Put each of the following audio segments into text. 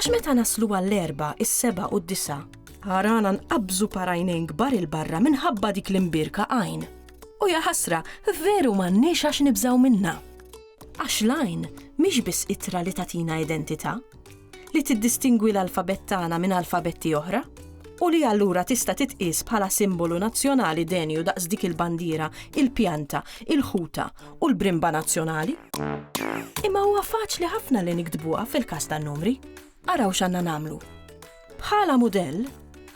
Għax meta naslu għall-erba, is-seba u d-disa, għarana nqabżu parajnejn kbar il-barra minħabba dik l-imbirka għajn. U jaħasra, veru m'għandniex għax nibżaw minna. Għax lajn mhix biss itra li tatina identità, li tiddistingwi l-alfabet tagħna minn alfabetti oħra, u li allura tista' titqies bħala simbolu nazzjonali denju daqs dik il-bandiera, il-pjanta, il-ħuta u l-brimba nazzjonali. Imma huwa faċli ħafna li niktbuha fil-każ tan-numri. Araw x'għandna nagħmlu. Bħala mudell,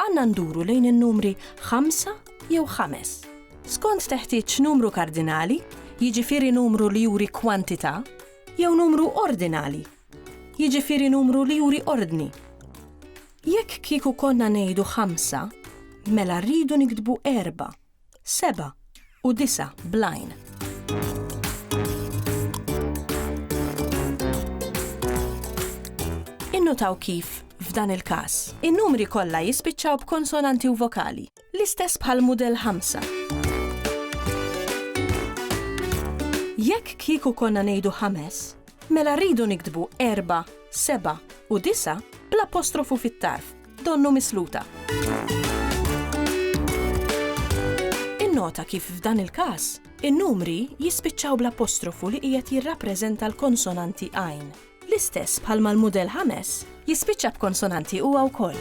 għandna nduru lejn in-numri 5 jew 5. Skont teħtieġ numru kardinali, jiġifieri numru li juri kwantità, jew numru ordinali, jiġifieri numru li juri ordni. Jekk kieku konna ngħidu 5, mela rridu niktbu erba' seba' u disa' bl-għajn. Innutaw kif, f'dan il-każ, in-numri kollha jispiċċaw b'konsonanti u vokali, l-istess bħal mudell ħamsa. Jekk kieku konna ngħidu ħames, mela rridu niktbu erba', seba' u disa' bl-apostrofu fit-tarf, Donnu misluta. Innota kif f'dan il-każ, in-numri jispiċċaw bl-apostrofu li qiegħed jirrappreżenta l-konsonanti għajn. L-istess bħalma l-mudell ħames jispiċċa b'konsonanti huwa wkoll.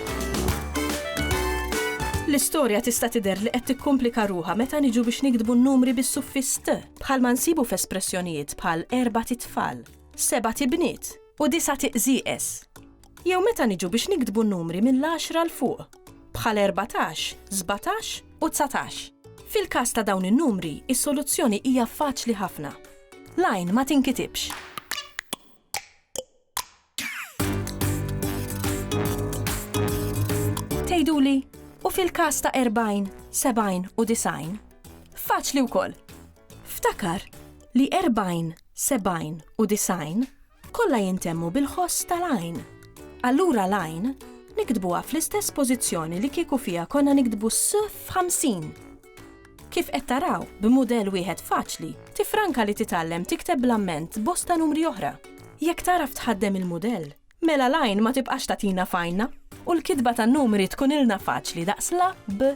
L-istorja tista' tidher li qed tikkumplika ruha meta niġu biex nikdbu n-numri bis-suffiss t, bħalma nsibu f'espressjonijiet bħal erba' titfal, seba' tibniet u disa' tiqżieqes. jew meta niġu biex niktbu n-numri mill-għaxra 'l fuq, bħal erbatax, sbatax u dsatax. Fil-każ ta' dawn in-numri, is-soluzzjoni hija faċli ħafna. L-għajn ma tinkitibx. Tgħiduli, u fil-każ ta' erbgħin, sebgħin u disgħin? Faċli wkoll. Ftakar li erbgħin, sebgħin u disgħin Kollha jintemmu bil-ħoss tal-għajn. Allura l-għajn niktbuha fl-istess pożizzjoni li kieku fiha konna niktbu s f'ħamsin. Kif qed taraw, b'mudell wieħed faċli, tifranka li titgħallem tikteb bl-amment bosta numri oħra. Jekk tagħraf tħaddem il-mudell, mela l-għajn ma tibqax tagħtina f'għajnna u l-kitba tan-numri tkunilna faċli daqs la b